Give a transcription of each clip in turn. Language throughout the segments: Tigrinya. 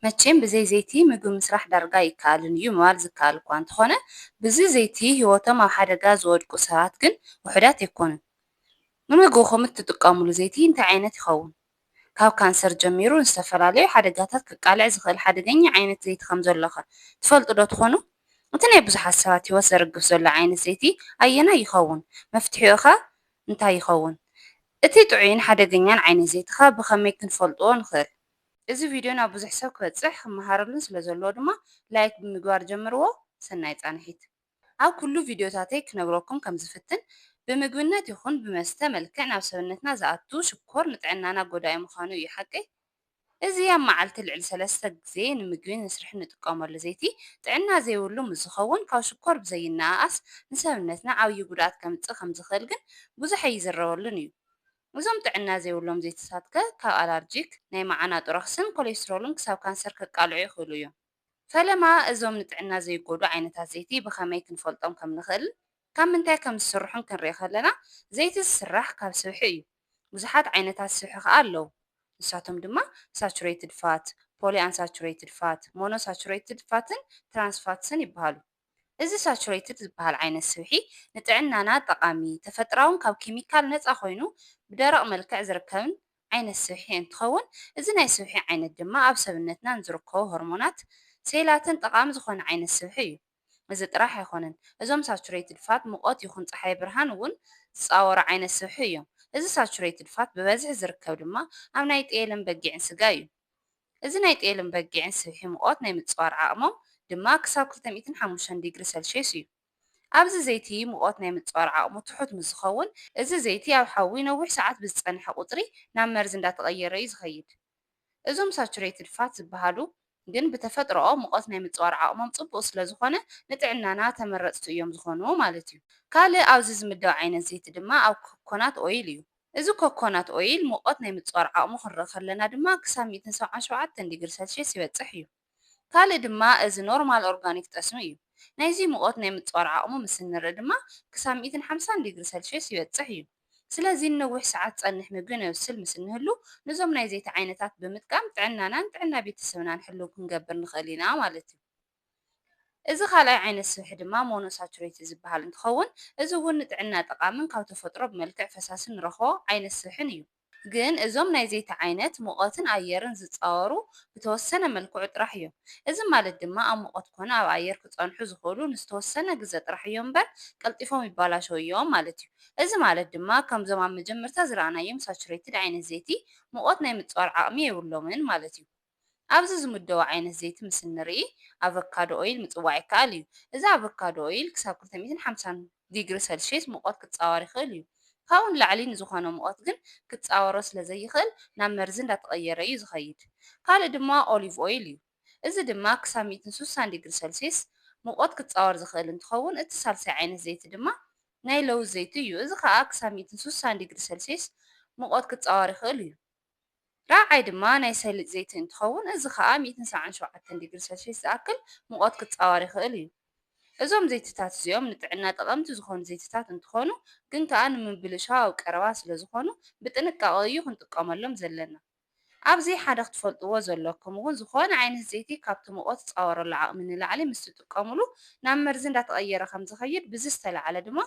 መቼም ብዘይ ዘይቲ ምግቢ ምስራሕ ዳርጋ ኣይከኣልን እዩ ምባል ዝከኣል እኳ እንተኾነ ብዚ ዘይቲ ህይወቶም ኣብ ሓደጋ ዝወድቁ ሰባት ግን ውሑዳት ኣይኮኑን። ንምግብኹም እትጥቀሙሉ ዘይቲ እንታይ ዓይነት ይኸውን? ካብ ካንሰር ጀሚሩ ንዝተፈላለዩ ሓደጋታት ከቃልዕ ዝኽእል ሓደገኛ ዓይነት ዘይቲ ከምዘሎኸ ትፈልጡዶ ትኾኑ? እቲ ናይ ብዙሓት ሰባት ህይወት ዘርግፍ ዘሎ ዓይነት ዘይቲ ኣየናይ ይኸውን? መፍትሒኡኸ እንታይ ይኸውን? እቲ ጥዑይን ሓደገኛን ዓይነት ዘይቲኸ ብኸመይ ክንፈልጥዎ ንኽእል? እዚ ቪድዮ ናብ ብዙሕ ሰብ ክበጽሕ ክመሃረሉን ስለ ዘለዎ ድማ ላይክ ብምግባር ጀምርዎ ሰናይ ጻንሒት። ኣብ ኩሉ ቪድዮታተይ ክነግረኩም ከም ዝፍትን ብምግብነት ይኹን ብመስተ መልክዕ ናብ ሰብነትና ዝኣቱ ሽኮር ንጥዕናና ጎዳኢ ምዃኑ እዩ ሓቀይ እዚ ኣብ መዓልቲ ልዕሊ ሰለስተ ግዜ ንምግቢ ንስርሒ ንጥቀመሉ ዘይቲ ጥዕና ዘይብሉ ምስ ዝኸውን ካብ ሽኮር ብዘይነኣኣስ ንሰብነትና ዓብዪ ጉድኣት ከምጽእ ከም ዝኽእል ግን ብዙሕ ኣይዝረበሉን እዩ እዞም ጥዕና ዘይብሎም ዘይትታት ከ ካብ ኣላርጂክ፣ ናይ መዓናጡ ረኽስን ኮሌስትሮልን ክሳብ ካንሰር ከቃልዑ ይኽእሉ እዮም። ፈለማ እዞም ንጥዕና ዘይጎድኡ ዓይነታት ዘይቲ ብኸመይ ክንፈልጦም ከም ንኽእልን ካብ ምንታይ ከም ዝስርሑን ክንርኢ ከለና ዘይቲ ዝስራሕ ካብ ስብሒ እዩ። ብዙሓት ዓይነታት ስብሒ ከኣ ኣለዉ። ንሳቶም ድማ ሳቹሬትድ ፋት፣ ፖሊኣንሳቹሬትድ ፋት፣ ሞኖሳቹሬትድ ፋትን ትራንስ ፋትስን ይበሃሉ። እዚ ሳቹረይትድ ዝበሃል ዓይነት ስብሒ ንጥዕናና ጠቓሚ፣ ተፈጥራውን ካብ ኬሚካል ነጻ ኮይኑ ብደረቕ መልክዕ ዝርከብን ዓይነት ስብሒ እንትኸውን እዚ ናይ ስብሒ ዓይነት ድማ ኣብ ሰብነትና ንዝርከቡ ሆርሞናትን ሴላትን ጠቓሚ ዝኾነ ዓይነት ስብሒ እዩ። እዚ ጥራሕ ኣይኾነን እዞም ሳቹረይትድ ፋት ሙቐት ይኹን ጸሓይ ብርሃን እውን ዝጻወሩ ዓይነት ስብሒ እዮም። እዚ ሳቹረይትድ ፋት ብበዝሒ ዝርከብ ድማ ኣብ ናይ ጤልን በጊዕን ስጋ እዩ። እዚ ናይ ጤልን በጊዕን ስብሒ ሙቐት ናይ ምጽዋር ዓቕሞም ድማ ክሳብ ክልተ ሚእትን ሓሙሽተን ዲግሪ ሰልሽየስ እዩ። ኣብዚ ዘይቲ ሙቐት ናይ ምጽዋር ዓቕሙ ትሑት ምስ ዝኸውን፣ እዚ ዘይቲ ኣብ ሓዊ ነዊሕ ሰዓት ብዝጸንሐ ቁጽሪ ናብ መርዚ እንዳተቐየረ እዩ ዝኸይድ። እዞም ሳቹሬትድ ፋት ዝበሃሉ ግን ብተፈጥሮኦም ሙቐት ናይ ምጽዋር ዓቕሞም ጽቡቕ ስለ ዝኾነ ንጥዕናና ተመረጽቲ እዮም ዝኾኑ ማለት እዩ። ካልእ ኣብዚ ዝምደብ ዓይነት ዘይቲ ድማ ኣብ ኮኮናት ኦይል እዩ። እዚ ኮኮናት ኦይል ሙቐት ናይ ምጽዋር ዓቕሙ ክንርኢ ከለና ድማ ክሳብ ሚእትን ሰብዓን ሸውዓተን ዲግሪ ሰልሽየስ ይበጽሕ እዩ። ካልእ ድማ እዚ ኖርማል ኦርጋኒክ ጠስሚ እዩ። ናይዚ ሙቐት ናይ ምጽዋር ዓቕሙ ምስ እንርኢ ድማ ክሳብ ሚእትን ሓምሳን ዲግሪ ሰልሽየስ ይበጽሕ እዩ። ስለዚ ንነዊሕ ሰዓት ዝጸንሕ ምግቢ ነብስል ምስ እንህሉ ንዞም ናይ ዘይቲ ዓይነታት ብምጥቃም ጥዕናናን ጥዕና ቤተሰብናን ሕልው ክንገብር ንኽእል ኢና ማለት እዩ። እዚ ካልኣይ ዓይነት ስብሒ ድማ ሞኖሳቹሬትድ ዝበሃል እንትኸውን እዚ እውን ንጥዕና ጠቓምን ካብ ተፈጥሮ ብመልክዕ ፈሳሲ ንረኽቦ ዓይነት ስብሕን እዩ። ግን እዞም ናይ ዘይቲ ዓይነት ሙቐትን ኣየርን ዝፃወሩ ብተወሰነ መልክዑ ጥራሕ እዮም። እዚ ማለት ድማ ኣብ ሙቐት ኮነ ኣብ ኣየር ክፀንሑ ዝኽእሉ ንዝተወሰነ ግዘ ጥራሕ እዮም እምበር ቀልጢፎም ይበላሸዉ እዮም ማለት እዩ። እዚ ማለት ድማ ከምዞም ኣብ መጀመርታ ዝረኣናዮም ሳቹሬትድ ዓይነት ዘይቲ ሙቐት ናይ ምፅዋር ዓቕሚ የብሎምን ማለት እዩ። ኣብዚ ዝምደቡ ዓይነት ዘይቲ ምስ እንርኢ ኣቮካዶ ኦይል ምጽዋዕ ይከኣል እዩ። እዚ ኣቮካዶ ኦይል ክሳብ ክልተ ሚእትን ሓምሳን ዲግሪ ሰልሽየስ ሙቐት ክጻወር ይኽእል እዩ። ካብኡ ንላዕሊ ንዝኾነ ሙቐት ግን ክጻወሮ ስለ ዘይኽእል ናብ መርዚ እንዳተቐየረ እዩ ዝኸይድ። ካልእ ድማ ኦሊቭ ኦይል እዩ። እዚ ድማ ክሳብ ሚእትን ሱሳን ዲግሪ ሰልሽየስ ሙቐት ክጻወር ዝኽእል እንትኸውን እቲ ሳልሳይ ዓይነት ዘይቲ ድማ ናይ ለውዝ ዘይቲ እዩ። እዚ ከኣ ክሳብ ሚእትን ሱሳን ዲግሪ ሰልሽየስ ሙቐት ክጻወር ይኽእል እዩ። ራብዓይ ድማ ናይ ሰሊጥ ዘይቲ እንትኸውን እዚ ኸኣ ሚእትን ሰብዓን ሸውዓተን ዲግሪ ሰልሽየስ ዝኣክል ሙቐት ክጻወር ይኽእል እዩ። እዞም ዘይቲታት እዚኦም ንጥዕና ጠቐምቲ ዝኾኑ ዘይቲታት እንትኾኑ ግን ከኣ ንምብልሻው ቀረባ ስለዝኾኑ ብጥንቃቐ እዩ ክንጥቀመሎም ዘለና። ኣብዚ ሓደ ክትፈልጥዎ ዘለኩም እውን ዝኾነ ዓይነት ዘይቲ ካብቲ ሙቐት ዝጻወረሉ ዓቕሚ ንላዕሊ ምስ ትጥቀምሉ ናብ መርዚ እንዳተቐየረ ከምዝኸይድ ብዚ ዝተላዕለ ድማ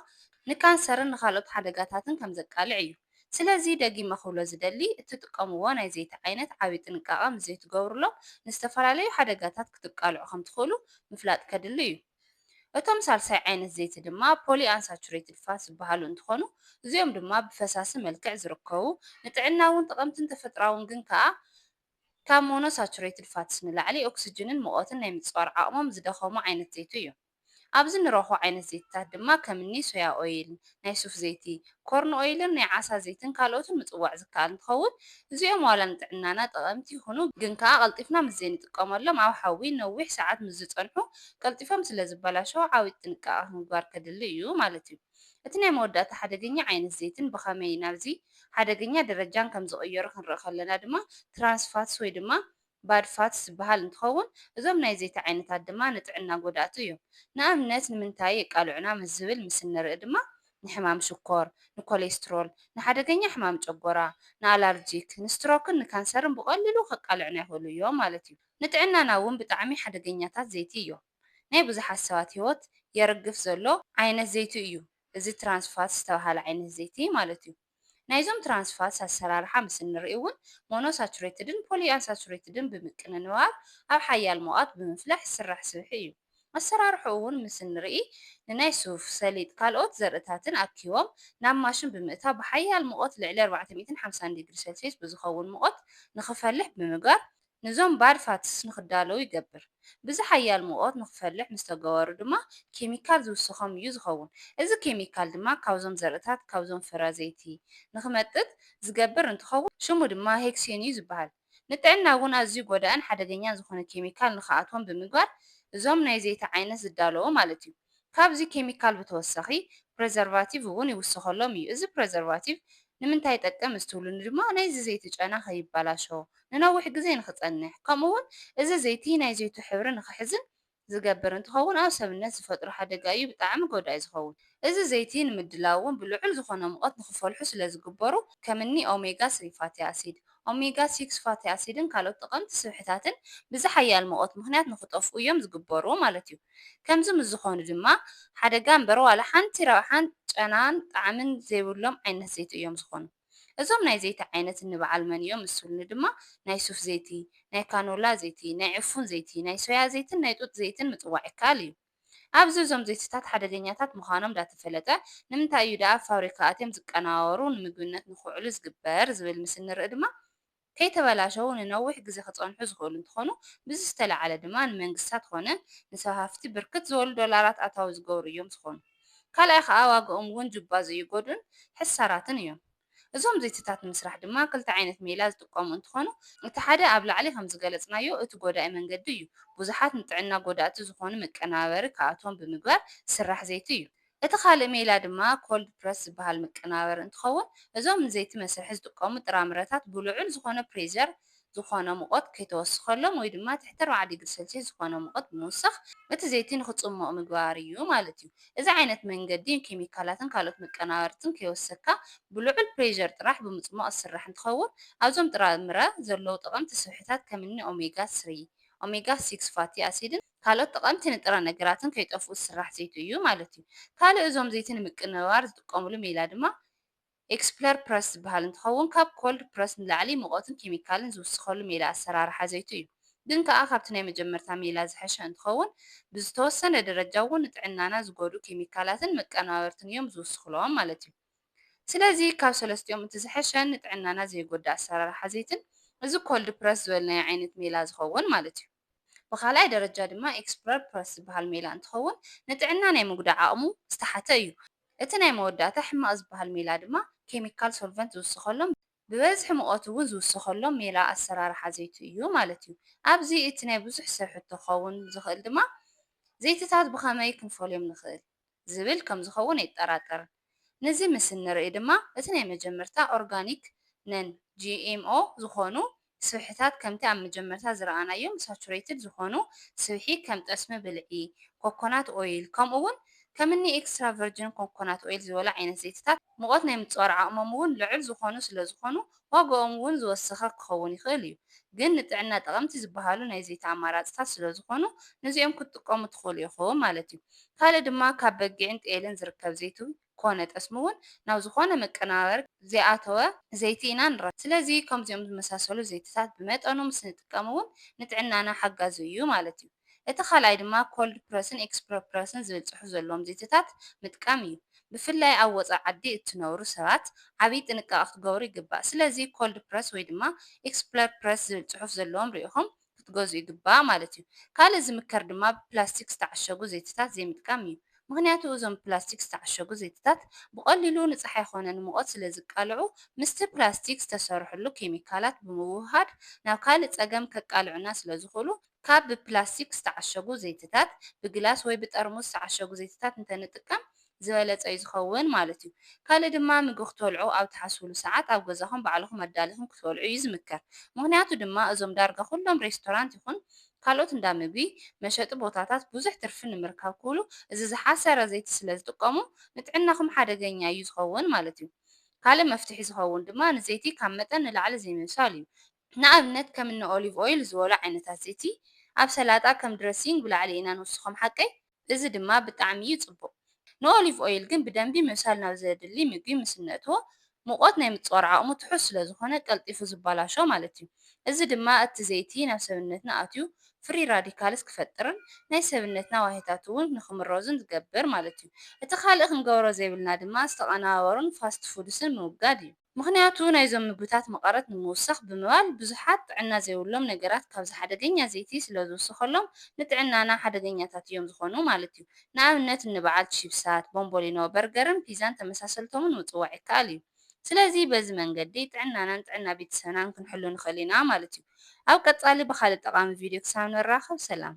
ንካንሰርን ንኻልኦት ሓደጋታትን ከምዘቃልዕ እዩ። ስለዚ ደጊመ ክብሎ ዝደሊ እትጥቀምዎ ናይ ዘይቲ ዓይነት ዓቢ ጥንቃቐ ምስ ዘይትገብሩሎም ንዝተፈላለዩ ሓደጋታት ክትቃልዑ ከም ትኽእሉ ምፍላጥ ከድሊ እዩ። እቶም ሳልሳይ ዓይነት ዘይቲ ድማ ፖሊ ኣንሳቹሬትድ ፋትስ ዝበሃሉ እንትኾኑ እዚኦም ድማ ብፈሳሲ መልክዕ ዝርከቡ ንጥዕና እውን ጠቐምትን ተፈጥራውን ግን ከኣ ካብ ሞኖሳቹሬትድ ፋትስ ንላዕሊ ኦክስጅንን ሙቐትን ናይ ምጽዋር ዓቕሞም ዝደኸሙ ዓይነት ዘይቲ እዮም። ኣብዚ ንረኽቦ ዓይነት ዘይቲታት ድማ ከም እኒ ሶያ ኦይል፣ ናይ ሱፍ ዘይቲ፣ ኮርን ኦይልን ናይ ዓሳ ዘይትን ካልኦትን ምፅዋዕ ዝከኣል እንትኸውን እዚኦም ዋላ ንጥዕናና ጠቐምቲ ይኹኑ ግን ከዓ ቀልጢፍና ምስ ዘይንጥቀመሎም ኣብ ሓዊ ነዊሕ ሰዓት ምስ ዝፀንሑ ቀልጢፎም ስለ ዝበላሸዉ ዓብጥ ጥንቃቐ ምግባር ከድሊ እዩ ማለት እዩ። እቲ ናይ መወዳእታ ሓደገኛ ዓይነት ዘይትን ብኸመይ ናብዚ ሓደገኛ ደረጃን ከም ዝቕየሩ ክንርኢ ከለና ድማ ትራንስ ፋትስ ወይ ድማ ባድ ፋትስ ዝበሃል እንትኸውን እዞም ናይ ዘይቲ ዓይነታት ድማ ንጥዕና ጎዳእቲ እዮም። ንኣብነት ንምንታይ የቃልዑና ምስ ዝብል ምስ እንርኢ ድማ ንሕማም ሽኮር፣ ንኮሌስትሮል፣ ንሓደገኛ ሕማም ጨጎራ፣ ንኣላርጂክ፣ ንስትሮክን ንካንሰርን ብቐሊሉ ከቃልዑና ይኽእሉ እዮም ማለት እዩ። ንጥዕናና እውን ብጣዕሚ ሓደገኛታት ዘይቲ እዮም። ናይ ብዙሓት ሰባት ህይወት የርግፍ ዘሎ ዓይነት ዘይቲ እዩ እዚ ትራንስ ፋትስ ዝተብሃለ ዓይነት ዘይቲ ማለት እዩ። ናይዞም ትራንስ ፋትስ ኣሰራርሓ ምስ እንርእይ'ውን ሞኖሳቹሬትድን ፖሊኣንሳቹሬትድን ብምቅንንባር ኣብ ሓያል ሙቐት ብምፍላሕ ዝስራሕ ስብሒ እዩ። ኣሰራርሕኡ'ውን ምስ እንርኢ ንናይ ሱፍ፣ ሰሊጥ ካልኦት ዘርእታትን ኣኪቦም ናብ ማሽን ብምእታው ብሓያል ሙቐት ልዕሊ ኣርባዕተ ሚእትን ሓምሳን ዲግሪ ሰልስዩስ ብዝኸውን ሙቐት ንኽፈልሕ ብምግባር ነዞም ባድ ፋትስ ንክዳለዉ ይገብር። ብዝሓያል ሙቐት ንክፈልሕ ምስ ተገበሩ ድማ ኬሚካል ዝውሰኾም እዩ ዝኸውን። እዚ ኬሚካል ድማ ካብዞም ዘርእታት ካብዞም ፍረ ዘይቲ ንክመጥጥ ዝገብር እንትኸውን ሽሙ ድማ ሄክሴን እዩ ዝበሃል። ንጥዕና እውን ኣዝዩ ጎዳእን ሓደገኛን ዝኾነ ኬሚካል ንክኣትዎም ብምግባር እዞም ናይ ዘይቲ ዓይነት ዝዳለዎ ማለት እዩ። ካብዚ ኬሚካል ብተወሳኺ ፕረዘርቫቲቭ እውን ይውሰኸሎም እዩ። እዚ ፕረዘርቫቲቭ ንምንታይ ይጠቅም እስትውሉኒ ድማ ናይዚ ዘይቲ ጨና ከይበላሾ፣ ንነዊሕ ግዜ ንክፀንሕ ከምኡ እውን እዚ ዘይቲ ናይ ዘይቱ ሕብሪ ንክሕዝን ዝገብር እንትኸውን ኣብ ሰብነት ዝፈጥሮ ሓደጋ እዩ ብጣዕሚ ጎዳኢ ዝኸውን። እዚ ዘይቲ ንምድላው እውን ብልዑል ዝኾነ ሙቐት ንክፈልሑ ስለዝግበሩ ከምኒ ኦሜጋ ስሪ ፋቲ ኣሲድ፣ ኦሜጋ ሲክስ ፋቲ ኣሲድን ካልኦት ጠቐምቲ ስብሕታትን ብዝሓያል ሙቐት ምኽንያት ንኽጠፍኡ እዮም ዝግበሩ ማለት እዩ። ከምዚ ምስ ዝኾኑ ድማ ሓደጋ እምበር ዋላ ሓንቲ ረብሓን ጨናን ጣዕምን ዘይብሎም ዓይነት ዘይቲ እዮም ዝኾኑ። እዞም ናይ ዘይቲ ዓይነት እንበዓል መን እዮም እሱልኒ ድማ ናይ ሱፍ ዘይቲ፣ ናይ ካኖላ ዘይቲ፣ ናይ ዕፉን ዘይቲ፣ ናይ ሶያ ዘይትን ናይ ጡጥ ዘይትን ምጽዋዕ ይከኣል እዩ። ኣብዚ እዞም ዘይቲታት ሓደገኛታት ምዃኖም ዳተፈለጠ ንምንታይ እዩ ደኣ ኣብ ፋብሪካ ኣትዮም ዝቀነባበሩ ንምግብነት ንክውዕሉ ዝግበር ዝብል ምስ እንርኢ ድማ ከይተበላሸዉ ንነዊሕ ግዜ ክጸንሑ ዝኽእሉ እንትኾኑ ብዚ ዝተለዓለ ድማ ንመንግስታት ኾነ ንስፋሕፍቲ ብርክት ዝበሉ ዶላራት ኣታዊ ዝገብሩ እዮም ዝኾኑ ካልኣይ ኸኣ ዋግኦም እውን ጁባ ዝእይጎዱን ሕሳራትን እዮም። እዞም ዘይቲታት ንምስራሕ ድማ ክልተ ዓይነት ሜላ ዝጥቀሙ እንትኾኑ እቲ ሓደ ኣብ ላዕሊ ከምዝገለፅናዮ እቲ ጎዳኢ መንገዲ እዩ። ብዙሓት ንጥዕና ጎዳእቲ ዝኾኑ መቀነባበሪ ክኣትዎም ብምግባር ዝስራሕ ዘይቲ እዩ። እቲ ካልእ ሜላ ድማ ኮልድ ፕረስ ዝበሃል መቀነባበሪ እንትኸውን እዞም ንዘይቲ መስርሒ ዝጥቀሙ ጥራምረታት ብልዑል ዝኾነ ፕሬዠር ዝኾነ ሙቐት ከይተወስኸሎም ወይ ድማ ትሕቲ ኣርባዓ ዲግሪ ሰልስየስ ዝኾነ ሙቐት ብምውሳኽ እቲ ዘይቲ ንክፅሞቕ ምግባር እዩ ማለት እዩ። እዚ ዓይነት መንገዲ ንኬሚካላትን ካልኦት መቀናበርትን ከይወሰካ ብልዑል ፕሬዠር ጥራሕ ብምፅሟቕ ዝስራሕ እንትኸውን ኣብዞም ጥራምረ ዘለዉ ጠቐምቲ ስብሕታት ከምኒ ኦሜጋ ስሪ፣ ኦሜጋ ሲክስ ፋቲ ኣሲድን ካልኦት ጠቐምቲ ንጥረ ነገራትን ከይጠፍኡ ዝስራሕ ዘይቲ እዩ ማለት እዩ። ካልእ እዞም ዘይቲ ንምቅንባር ዝጥቀሙሉ ሜላ ድማ ኤክስፕለር ፕረስ ዝበሃል እንትኸውን ካብ ኮልድ ፕረስ ንላዕሊ ሙቐትን ኬሚካልን ዝውስኸሉ ሜላ ኣሰራርሓ ዘይቲ እዩ። ግን ከኣ ካብቲ ናይ መጀመርታ ሜላ ዝሐሸ እንትኸውን ብዝተወሰነ ደረጃ እውን ንጥዕናና ዝጎድኡ ኬሚካላትን መቀነባበርትን እዮም ዝውስኽሎም ማለት እዩ። ስለዚ ካብ ሰለስቲኦም እቲ ዝሐሸን ንጥዕናና ዘይጎድእ ኣሰራርሓ ዘይትን እዚ ኮልድ ፕረስ ዝበልናዮ ዓይነት ሜላ ዝኸውን ማለት እዩ። ብኻልኣይ ደረጃ ድማ ኤክስፕረር ፕረስ ዝበሃል ሜላ እንትኸውን ንጥዕና ናይ ምጉዳእ ዓቕሙ ዝተሓተ እዩ። እቲ ናይ መወዳእታ ሕማቕ ዝበሃል ሜላ ድማ ኬሚካል ሶልቨንት ዝውሰኸሎም ብበዝሒ ሙቐት እውን ዝውሰኸሎም ሜላ ኣሰራርሓ ዘይቲ እዩ ማለት እዩ። ኣብዚ እቲ ናይ ብዙሕ ሰብ ሕቶ ክኸውን ዝኽእል ድማ ዘይትታት ብኸመይ ክንፈልዮም ንኽእል? ዝብል ከም ዝኸውን ኣይጠራጠርን። ነዚ ምስ እንርእይ ድማ እቲ ናይ መጀመርታ ኦርጋኒክ፣ ነን GMO፣ ዝኾኑ ስብሕታት ከምቲ ኣብ መጀመርታ ዝረኣናዮም ሳቹረይትድ ዝኾኑ ስብሒ ከም ጠስሚ ብልዒ፣ ኮኮናት ኦይል፣ ከምኡ'ውን ከምኒ ኤክስትራ ቨርጅን ኮኮናት ኦይል ዝበሉ ዓይነት ዘይቲታት፣ ሙቐት ናይ ምጽዋር ዓቕሞም'ውን ልዑል ዝኾኑ ስለዝኾኑ ዋጋኦም እውን ዝወሰኸ ክኸውን ይኽእል እዩ። ግን ንጥዕና ጠቐምቲ ዝበሃሉ ናይ ዘይቲ ኣማራፅታት ስለዝኾኑ ንዚኦም ክትጥቀሙ ትኽእሉ ኢኹም ማለት እዩ። ካልእ ድማ ካብ በጊዕን ጤልን ዝርከብ ዘይቲ ኮነ ጠስሚ እውን ናብ ዝኾነ መቀነባበሪ ዘይኣተወ ዘይቲ ኢና ንረክብ። ስለዚ ከምዚኦም ዝመሳሰሉ ዘይቲታት ብመጠኑ ምስንጥቀም እውን ንጥዕናና ሓጋዚ እዩ ማለት እዩ። እቲ ካልኣይ ድማ ኮልድ ፕረስን ኤክስፕረ ፕረስን ዝብል ጽሑፍ ዘለዎም ዘይቲታት ምጥቃም እዩ። ብፍላይ ኣብ ወጻኢ ዓዲ እትነብሩ ሰባት ዓቢ ጥንቃቐ ክትገብሩ ይግባእ። ስለዚ ኮልድ ፕረስ ወይ ድማ ኤክስፕረ ፕረስ ዝብል ጽሑፍ ዘለዎም ሪኢኹም ክትገዝኡ ይግባእ ማለት እዩ። ካልእ ዝምከር ድማ ብፕላስቲክ ዝተዓሸጉ ዘይቲታት ዘይምጥቃም እዩ። ምኽንያቱ እዞም ብፕላስቲክ ዝተዓሸጉ ዘይቲታት ብቐሊሉ ንጸሓይ ኾነ ንሙቐት ስለ ዝቃልዑ ምስቲ ፕላስቲክ ዝተሰርሑሉ ኬሚካላት ብምውህሃድ ናብ ካልእ ጸገም ከቃልዑና ስለ ዝኽእሉ ካብ ብፕላስቲክ ዝተዓሸጉ ዘይቲታት፣ ብግላስ ወይ ብጠርሙስ ዝተዓሸጉ ዘይቲታት እንተንጥቀም ዝበለጸ እዩ ዝኸውን ማለት እዩ። ካልእ ድማ ምግቢ ክትበልዑ ኣብ ትሓስቡሉ ሰዓት ኣብ ገዛኹም ባዕልኹም ኣዳሊኹም ክትበልዑ እዩ ዝምከር። ምኽንያቱ ድማ እዞም ዳርጋ ኩሎም ሬስቶራንት ይኹን ካልኦት እንዳ ምግቢ መሸጢ ቦታታት ብዙሕ ትርፊ ንምርካብ ክብሉ እዚ ዝሓሰረ ዘይቲ ስለ ዝጥቀሙ ንጥዕናኹም ሓደገኛ እዩ ዝኸውን ማለት እዩ። ካልእ መፍትሒ ዝኸውን ድማ ንዘይቲ ካብ መጠን ንላዕሊ ዘይምብሳል እዩ። ንኣብነት ከም እኒ ኦሊቭ ኦይል ዝበሉ ዓይነታት ዘይቲ ኣብ ሰላጣ ከም ድረሲንግ ብላዕሊ ኢና ንውስኾም ሓቀይ? እዚ ድማ ብጣዕሚ እዩ ፅቡቕ። ንኦሊቭ ኦይል ግን ብደንቢ ምብሳል ናብ ዘድሊ ምግቢ ምስ እነእትዎ ሙቐት ናይ ምፅዋር ዓቕሙ ትሑት ስለዝኾነ ቀልጢፉ ዝባላሾ ማለት እዩ። እዚ ድማ እቲ ዘይቲ ናብ ሰብነትና ኣትዩ ፍሪ ራዲካልስ ክፈጥርን ናይ ሰብነትና ዋህዮታት እውን ንክምረዙን ዝገብር ማለት እዩ። እቲ ካልእ ክንገብሮ ዘይብልና ድማ ዝተቐነባበሩን ፋስት ፉድስን ምውጋድ እዩ። ምኽንያቱ ናይዞም ምግብታት መቐረት ንምውሳኽ ብምባል ብዙሓት ጥዕና ዘይብሎም ነገራት ካብዚ ሓደገኛ ዘይቲ ስለዝውሰኸሎም ንጥዕናና ሓደገኛታት እዮም ዝኾኑ ማለት እዩ። ንኣብነት እንበዓል ቺፕሳት፣ ቦምቦሊኖ፣ በርገርን ፒዛን ተመሳሰልቶምን ምጽዋዕ ይከኣል እዩ። ስለዚ በዚ መንገዲ ጥዕናናን ጥዕና ቤተሰብናን ክንሕሉ ንኽእል ኢና ማለት እዩ። ኣብ ቀጻሊ ብኻልእ ጠቓሚ ቪድዮ ክሳብ ንራኸብ ሰላም።